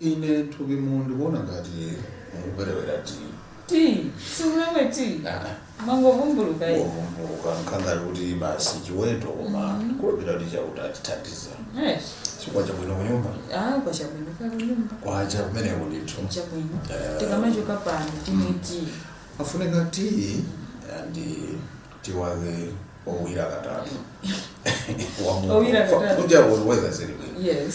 ine thupimu ndikumva ngati mukuperewera tea tea siumamwa tea umangovumbuluka eyi wovumbuluka nkhangali kuti basi chiweto koma kukhulupira kuti chauta atithandiza Yes. chi kwacha bwino kunyumba ah kwacha bwino kukunyumba kwacha kumeneko ndithu chabwino Eh. tikamachoka pano timwe tea afunika tea ndi tea wake owira katatu Owira katatu. kuti akuweza zili bwino yes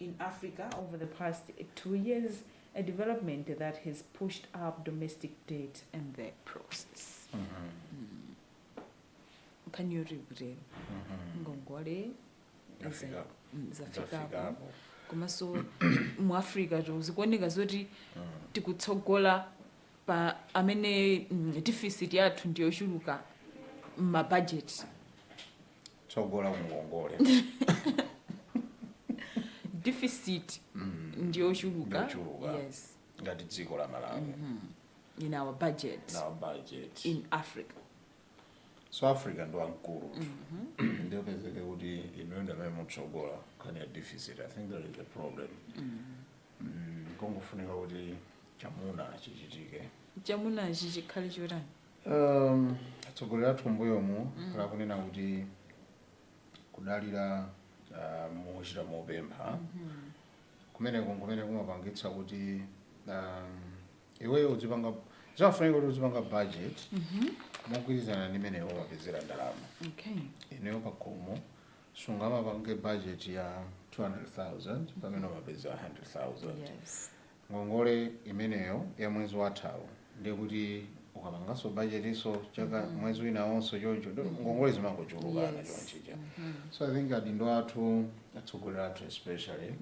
in Africa over the past two years, a development that has pushed up domestic debt in the process. Mm -hmm. mm. Can you repeat? Mm-hmm. Ngongole zafikapo mm, komanso mu africa zikuoneka zoti mm. tikutsogola pa amene mm, deficit yathu ndiyochuluka mmabajeti tsogola kungongole deficit ndiyochuluka Yochuluka. yes ngati dziko la malawi in our budget our budget in africa so africa ndi wamkulu ndiye upezeke kuti inuyo ndamene mukutsogola nkhani ya deficit i think that is the problem Mm, kongofunika kuti chamuna chichitike chamunachi chikhale chotani Um, atsogoleri athu mbuyomu akhala akunena kuti kudalira uh, mochita mopempha kumeneko nkumene kumapangitsa kuti um, iweyo uzipanga zafunika kuti uzipanga budget mogwirizana ndi mmene iwe wapezera ndalama okay iweyo pakhomo sungamapange budget ya 200000 pamene umapezera 100000 yes ngongole imeneyo ya mwezi wathawo ndiye kuti ukapanganso budgetinso chaka mwezi winawonso choncho ndiye ngongole zimangochulukana Yes. chonchija so i think adindo athu atsogoleri athu especially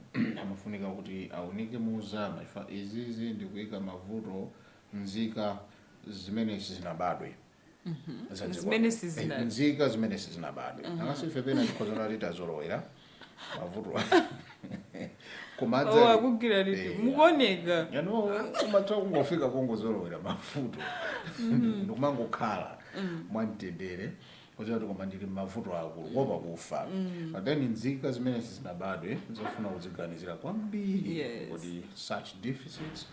amafunika kuti aunike muuzama if izizi ndikuyika mmavuto nzika zimene sizinabadwe Zanje Zimene kwa- sizina- Eh, nzika zimene sizinabadwe angakhale ife pena tikhoza kunena kuti tazolowera mavuto koma adza- Oh, akugwira liti Eh, mukuoneka you know umatha kungofika pongozolowera mavuto ndikumangokhala mwamtendere kuziwa kuti koma ndili mmavuto akulu kuopa kufa but then nzika zimene sizinabadwe zofuna kuziganizira kwambiri Yes. kuti such deficits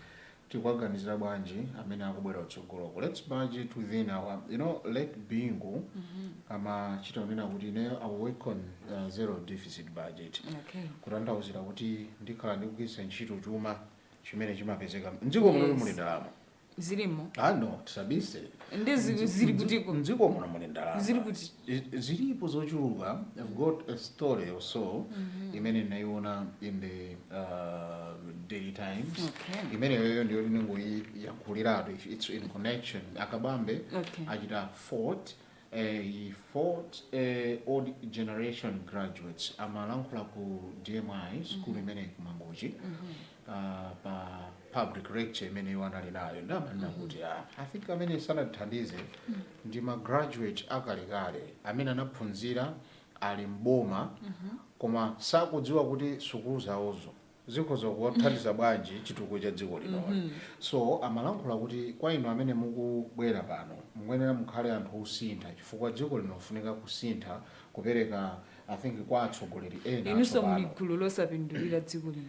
tikuwaganizira bwanji amene akubwera kutsogoloku let's budget within our you know late bingu amachita kunena kuti ineyo i will work on uh, zero deficit budget Okay. kutanthauzira kuti ndikhala ndikugwiritsa ntchito chuma chimene chimapezeka mdziko muno Yes. muli ndalama Zilimo. ah no tisabise Ndi zi- zili kutiko. mdziko muno muli ndalama Zili kuti. zilipo zochuluka i've got a story or so mm -hmm. imene ndinayiona in the uh, daily times okay. imeneyoyo ndiyo ndinongoyiyakhuliratu its in connection akabambe okay. achita fault uh, eh, he faults uh, eh, old generation graduates amalankhula ku dmi school mm -hmm. imeneyi ku Mangochi mm -hmm. ah, pa public lecture imene iwo anali nayo ndiye amanena kuti ah, i think amene sanatithandize ndi ma graduate akalekale amene anaphunzira ali m'boma koma sakudziwa kuti sukulu zawozo zikhoza kuwathandiza bwanji chitukuko cha dziko linoli so amalankhula kuti kwa inu amene mukubwera pano mukuyenera mukhale anthu osintha chifukwa dziko lino lifunika kusintha kupereka i think kwa atsogoleri ena inunso atsopano. muli gulu losapindulira dziko lino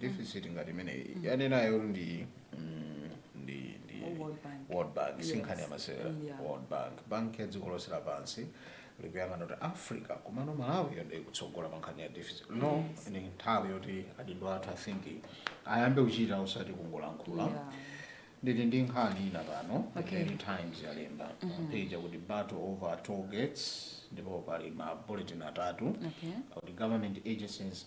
deficit ngati imeneyi yanenayo ndi mm, ndi ndi World Bank. World Bank Yes. si nkhani ya masewera Mm, yeah. World Bank banki ya dziko lonse lapansi likuyang'ana kuti Africa komano Malawi yo nde ikutsogola pa nkhani ya deficit now ndi nthawi yoti adindo athu I think ayambe kuchita usati kungolankhula Yeah. ndili ndi nkhani ina pano Okay. Daily Times yalemba page kuti battle over toll gates ndipo pali ma bullet atatu Okay. kuti government agencies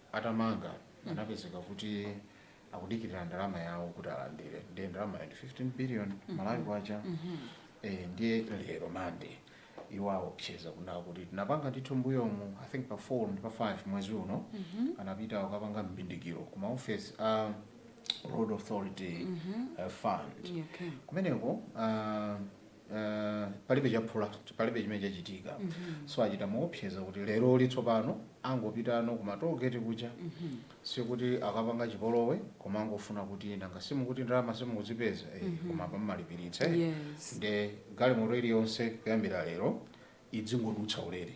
atamanga anapezeka kuti akudikilira ndalama yawo kuti alandire ndiye ndalamayo ndi 15 billion mm -hmm. malawi kwacha mm -hmm. e, ndiye lero mande iwo aopseza kunena kuti tinapanga ndithu mbuyomu i think pa 4 ndi pa 5 mwezi uno mm -hmm. anapita kukapanga mbindikiro ku maofesi a uh, road authority mm -hmm. uh, fund yeah, okay. kumeneko uh, eh, palibe chaphula palibe chimene chachitika so achita moopseza kuti leroli tsopano angopitano ku ma toll gate kuja sikuti akapanga chipolowe koma angofuna kuti nanga simukuti ndalama simukuzipeza eh, koma pa mmalipiritsa Yes. nde galimoto iliyonse kuyambira lero idzingodutsa ulere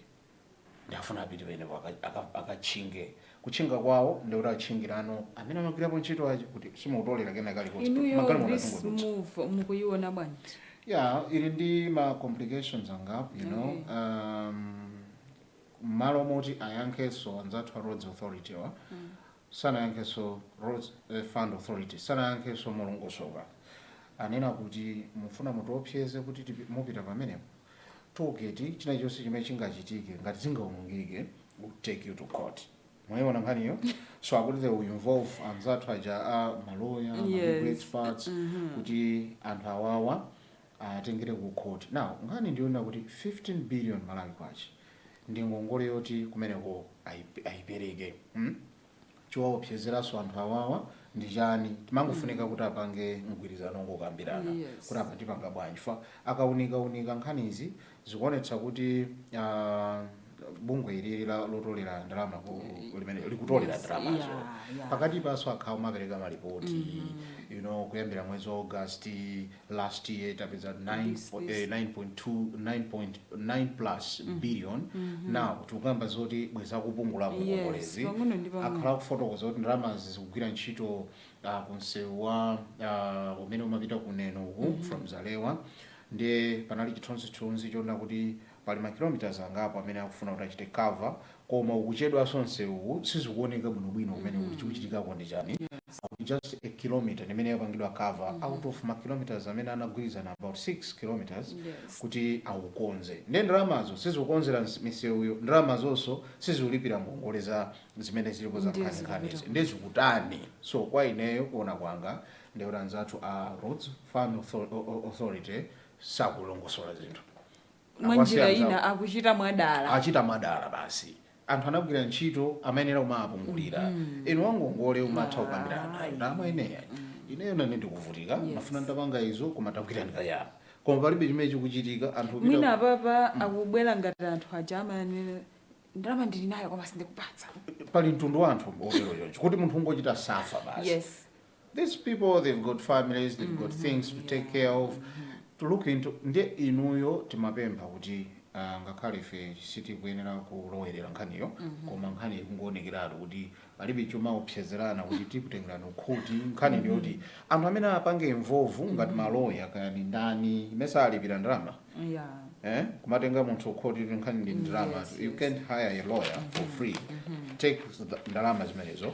Nde afuna apite penepo aka- aka- akatchinge kutchinga kwawo ndikuti atchingirano amene amagwirapo ntchito aja kuti simukutolera kena kalikonse inuyo magalimoto adzingodutsa this move mukuyiona bwanji yeah ili ndi ma complications angapo you know Okay. um, mmalo moti ayankhenso anzathu a roads authority wa Sanayankhenso Roads Fund Authority sanayankhenso molongosoka. Anena kuti mufuna mutiopseze kuti mupita pamenepo? pa Toll gate china chonse chimene chingachitike ngati zingaonongeke would take you to court. Mwaiona nkhaniyo? So akuti they will involve anzathu aja a maloya, ma legal Yes. experts Mhm. kuti anthu awawa awatengere ku court now nkhani ndiyonena kuti 15 billion Malawi kwacha ndi ngongole yoti kumeneko ayipereke mm chowaopsezeranso anthu awawa ndi chani chimangofunika kuti apange mgwirizano ongokambirana kuti apa tipanga bwanji chifukwa akaunika unika nkhanizi zikuonetsa kuti bungwe ilili lotolera ndalama limene likutolera Yes, ndalamazo yeah, yeah. pakatipanso akhala kumapereka malipoti you know kuyambira mwezi wa august last year tapeza 9 This, po- this. eh, 9.2 9.9 plus billion now tikukamba zoti bwenzi akupungula Yes, ngongolezi pang'ono ndi pang'ono. akhala akufotokoza kuti ndalamazi zikugwira ntchito ah, ku msewu wa ah, umene umapita ku neno uku from zalewa Ndiye panali chithunzithunzi chonena kuti pali ma km angapo amene akufuna kuti achite cover koma ukuchedwanso nsewuwu sizikuoneka bwinobwino kumene mm -hmm. chikuchitikako ndi chani akuti just a kilometer ndimene yapangidwa cover mm -hmm. out of ma km amene anagwirizana about 6 km yes. kuti awukonze ndiye ndalamazo sizikukonzela misewuyo ndalamazonso sizikulipira ngongole zimene zilipo za nkhaninkhanizi ndiye zikutani so kwa ineyo kuona kwanga Ndi kuti anzathu a Roads Fund Authority sakulongosola zinthu. Mwa njira ina akuchita mwadala. Achita mwadala basi. Anthu anagwira ntchito amayenera kumawapungulira. Mm -hmm. Inu wangongole umatha kukambirana naye. Ndalama ineyo. Mm -hmm. Ineyo nane ndikuvutika. Yes. Ndimafuna ndapanga izo koma tagwirani kayapa. Koma palibe chimene chikuchitika anthu pita. Mwina papa mm. akubwera ngati anthu aja amanena ndalama ndili nayo koma sindikupatsa. Pali mtundu wa anthu otero choncho kuti munthu ungochita safa basi. Yes. these people they've got families they've got things to take care of to look into ndiye inuyo timapempha kuti ah, ngakhale ife sitikuyenera kulowerera nkhaniyo koma nkhani ikungowonekeratu kuti palibe chomaopsezerana kuti tikutengerani kukhoti nkhani ndi yoti anthu amene apange involve ngati maloya kaya ndi ndani mesa alipira ndalama yeah eh, kumatenga munthu kukhoti kuti nkhani ndi ndalama Yes, you yes. can't hire a lawyer for free take the ndalama zimenezo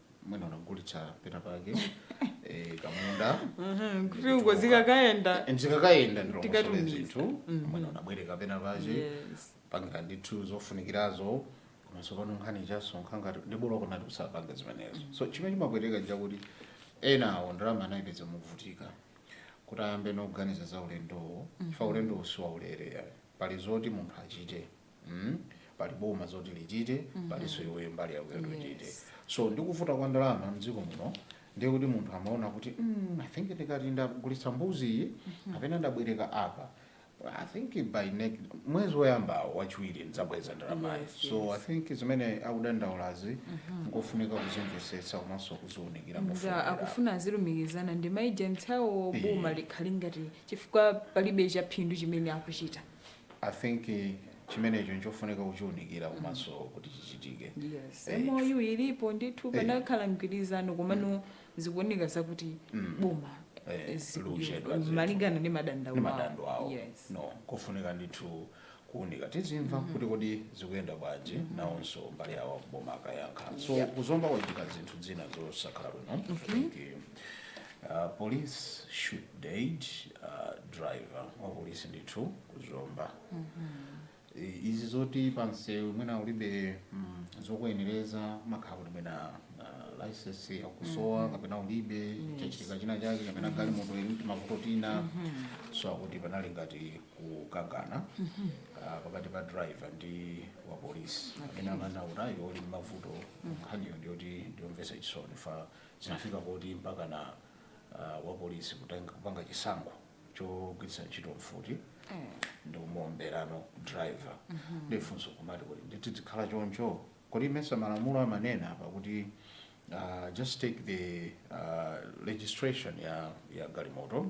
mwina unagulitsa pena pake eh, kamunda Mhm, kuti uko zikakayenda Eh, zikakayenda ndilongosole Tikatumiza. zinthu mwina unabwereka pena pache Yes. panga ndithu zofunikirazo komanso pano nkhani chasonkha ngati ndi bola kunali kusapanga zimenezo so chimene chimapweteka njakuti ena awo ndalama anayipeza mukuvutika kuti ayambe nokuganiza za ulendowo chifukwa ulendowo si waulere pali zoti munthu achite mm? pali boma zoti lichite mm -hmm. palinso iweyo mbali yako yoti uchite yes. so ndikuvuta kwa ndalama mdziko muno ndiye kuti munthu amaona kuti mm, i think ndikati ndagulitsa mbuzi iyi mm -hmm. kapena ndabwereka apa I think by next mwezi woyamba wachiwiri ndidzabweza ndalamayi yes, so yes. I think zimene akudandaulazi mm -hmm. nkofunika kuzimvesetsa komanso kuziunikira mofunika akufuna azilumikizana ndi maagents awo boma likhale ngati chifukwa palibe chaphindu chimene akuchita I think eh, chimenecho nchofunika kuchiunikira komanso kuti chichitike yes Eh, MOU ilipo ndithu panakhala mgwirizano komano zikuoneka zakuti boma Eh, eh, zikuliwa- likuchedwa zinthu. malingana ndi madandaulo ndi awo. madandaulo awo yes no kofunika ndithu kuunika tizimva kuti kodi zikuyenda bwanji nawonso mbali yawo aku boma akayankha so Yeah. kuzomba kwachitika zinthu zina zosakhala bwino I think, uh, police shoot dead uh, driver wa polisi ndithu ku zomba I- izi zoti pamsewu mwina ulibe mm, zokuyenereza mwakhala kuti mwina uh, license yakusowa kapena ulibe chachitika china chake kapena galimoto ili ndi mavuto ena so akuti panali ngati kukangana ah, pakati pa driver ndi wa polisi kapena amana utayo uli ndi mavuto nkhaniyo ndiyoti ndiyomvesa chisoni chifukwa zinafika kuti mpaka na uh, wa polisi kutenga- kupanga chisankho chogwiritsa ntchito mfuti ndi kumaomberano driver ndifunso kumati kuti ndithu zikhala choncho kodi mesa malamulo amanena apa kuti uh, just take the uh, registration ya, ya galimoto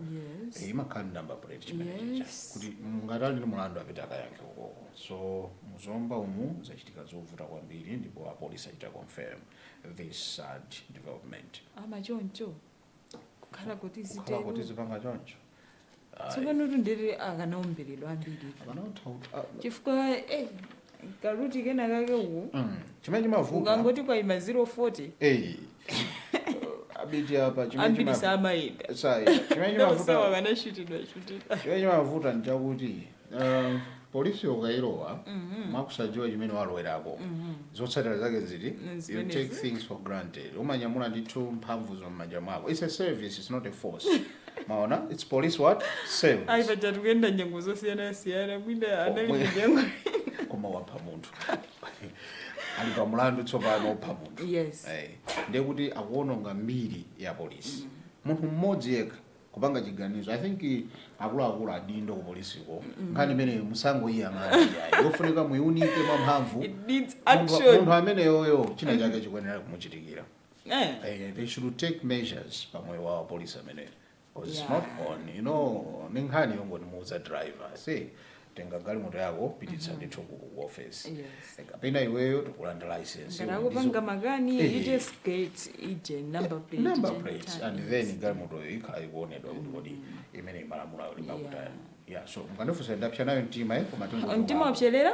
Yes. Eh, imakhala ndi number plate chimenecho Yes. kuti ngati ali ndi mulandu apite akayankhe ukoko so muzomba umu zachitika zovuta kwambiri ndipo apolisi achita confirm this sad development ama choncho kukhala kuti kukhala kuti zitero zipanga choncho tsopano tu ndiye kuti akanaomberedwa ambiri chifukwa eh, karuti kena kake uwu Mm, chimene chimavuta ukangoti kwaima 040 Eh, abiti apa chimene ambiri chima- samayenda Sai, chimene chimavuta ndosawakanashutidwa shutidwa chimene chimavuta nchakuti Uh, polisi ukailowa mm-hmm. mwa kusadziwa chimene walowerako mm-hmm. zotsatira zake nziti you take things for granted umanyamula ndithu mphamvu zomanja mwako it's a service it's not a force maona it's police what service ayi paja tikuyenda nyengo zosiyanasiyana mwina anali nyengo koma wapha munthu ali pa mulandu tsopano wopha munthu yes. hey. Eh, ndiye kuti akuononga mbiri ya polisi mm-hmm. munthu mmodzi yekha kupanga chiganizo i think akuluakulu adindo kupolisiko nkhani imeneyi musangoyiyang'ana iyayi yofunika muyiunike mwamphamvu It needs Munthu- action. munthu ameneyoyo china chake chikuyenera kumuchitikira Eh. Eh, they should take measures pamoyo wa polisi ameneyo because it's Yeah. not on you know ni nkhani yongoti muuza driver say tenga galimoto yako pititsa ndithu ku ku office Yes. kapena iweyo tikulanda license ngati akupanga makani Eh. you just get the number plate number ije plates nthawi. and then galimotoyo ikhala ikuonedwa kuti kodi imene malamulo ake akutani yeah so mukandifunsa ndapsa nayo mtima eh koma tingo mtima wapserera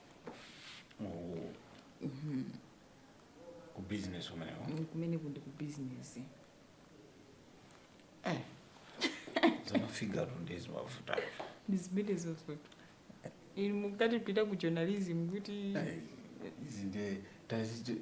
Oh. ku business umenewo kumene kuli ku business za ma figure tu ndi izi mafuta ndi zimene zozo inu mukatipitira ku journalism kuti izi nde tazi-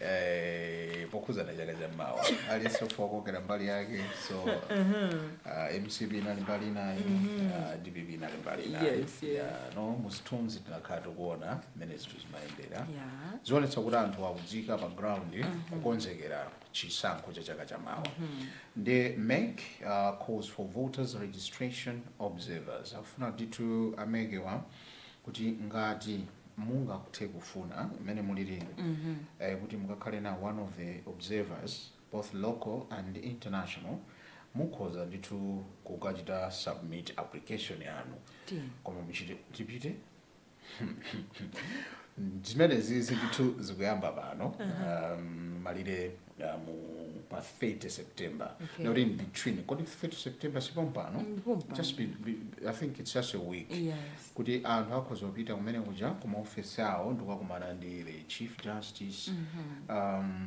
Eh, pokhudzana chaka cha mawa aliyense ofuna kukokera mbali yake so uh, mcp inali mbali inayo uh, dpp inali mbali inayo Yes, yes. Yeah, no musithunzi tinakhala tikuona mmene zinthu zimayendera Yeah. zikuonetsa kuti anthu akutsika pa ground kukonzekera chisankho cha chaka cha mawa ndi mec uh, calls for voters registration observers akufuna ndithu a MEC wa kuti ngati mungathe kufuna mmene mulilimo eh, kuti mukakhale na one of the observers both local and international mukhoza ndithu kukachita submit application yanu Tiyeni. koma muchite tipite zimenezizi ndithu zikuyamba pano um, malire ya mu pa 30 september Okay. not in between kodi 30 september sipompano Mm, pompano. just be, be, i think it's just a week Yes. kuti anthu akhoza kupita kumene kuja kumaofesi awo ndikukakumana ndi the chief justice um,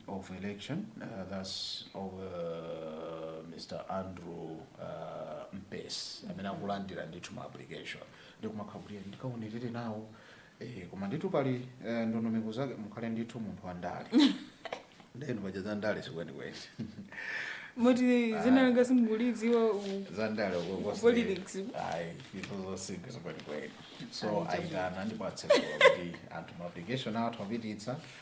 of election uh, thats of, uh, mr andrew uh, mpesi amene akulandira ndithu ma application ndikumakhala kuti ndikaonerere nawo Eh, koma ndithu pali eh, ndondomeko zake mukhale ndithu munthu wa ndale nde inu paja za ndale sikwenikweni moti dzina langa simukulidziwa u- za ndale Politics. ayi izo zosinkha sikwenikweni so ayitana ndipo atsekula kuti anthu ma application atha kupititsa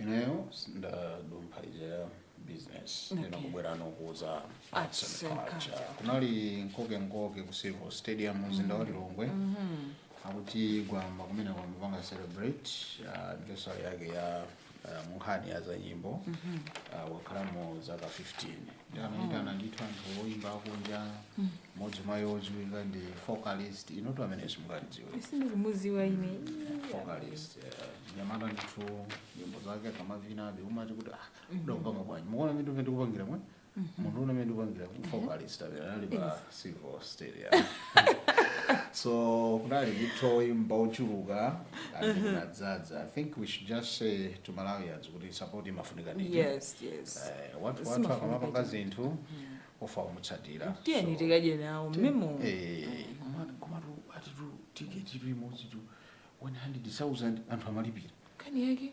ineyo ndadumpha ija ya business ndina Okay. kubwera ndikuuze Arts arts and and culture culture. kunali nkoke nkoke ku civil stadium mzinda wa lilongwe akuti gwamba kumene kwawo amapanga celebrate ah, anniversary yake ya ah, munkhani ya zamayimbidwe Ah, wakhalamo zaka 15 anayitana ndithu anthu oyimba akunja mmodzi mwa iwo odziwika ndi focalistic inotu amene simungamudziwe sindikumudziwa ine focalistic mnyamata ndithu nyimbo zake akamavinabe umati kuti ah udakupanga bwanji mukuona mmene ndikupangira mwe munthu ona mmene ndikupangira focalistic amene anali pa civil stadium so kunali ndithu oyimba ochuluka and kunadzadza i think we should just say to malawians kuti support imafunika ndithu yes yes Eh, wathu imafunika wathu akamapanga ndithu. zinthu ofunika kumutsatira tiyeni So, tikadye nawo mmemo eh, koma- komatu akutitu tiketi imodzi tu 100000 anthu amalipira nkhani yake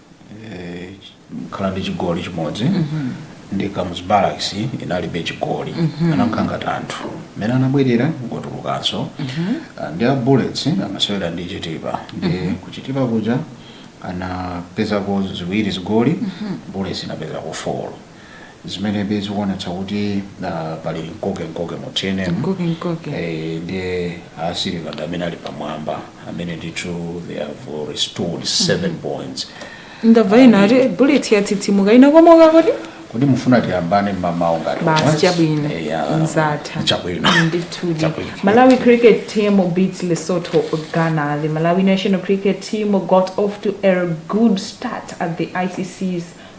khala ndi chigoli chimodzi ndi Kamuzu Barracks inalibe chigoli anakhala ngati anthu mmene anabwelera ngotulukanso Ah, ndi a Bullets amasewera ndi Chitipa ndiye ku Chitipa kuja anapezako ziwiri zigoli Bullets inapezako four zimenenso zikuonetsa kuti ah, pali mkokemkoke mu tnm Mkoke, mkoke. Eh, ndiye asiliva ndi amene ali pamwamba amene ndithu they have restored seven points ndamva ena ati Bullets yatsitsimuka inakomoka kodi kodi mufuna tiyambane mmamawo ngati basi once? chabwino Eh, ya, zatha chabwino ndithudi Chabwino. malawi cricket team beats lesotho ghana the malawi national cricket team got off to a good start at the icc's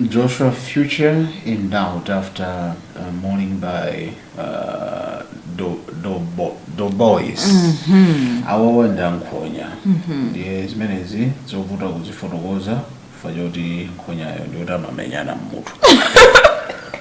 Joshua future in doubt after uh, mauling by uh, do, do, bo, do boys mm -hmm. awawa ndi ankhonya mm -hmm. ndiye zimenezi zovuta kuzifotokoza chifukwa choti nkhonyayo ndiyoti amamenyana mmutu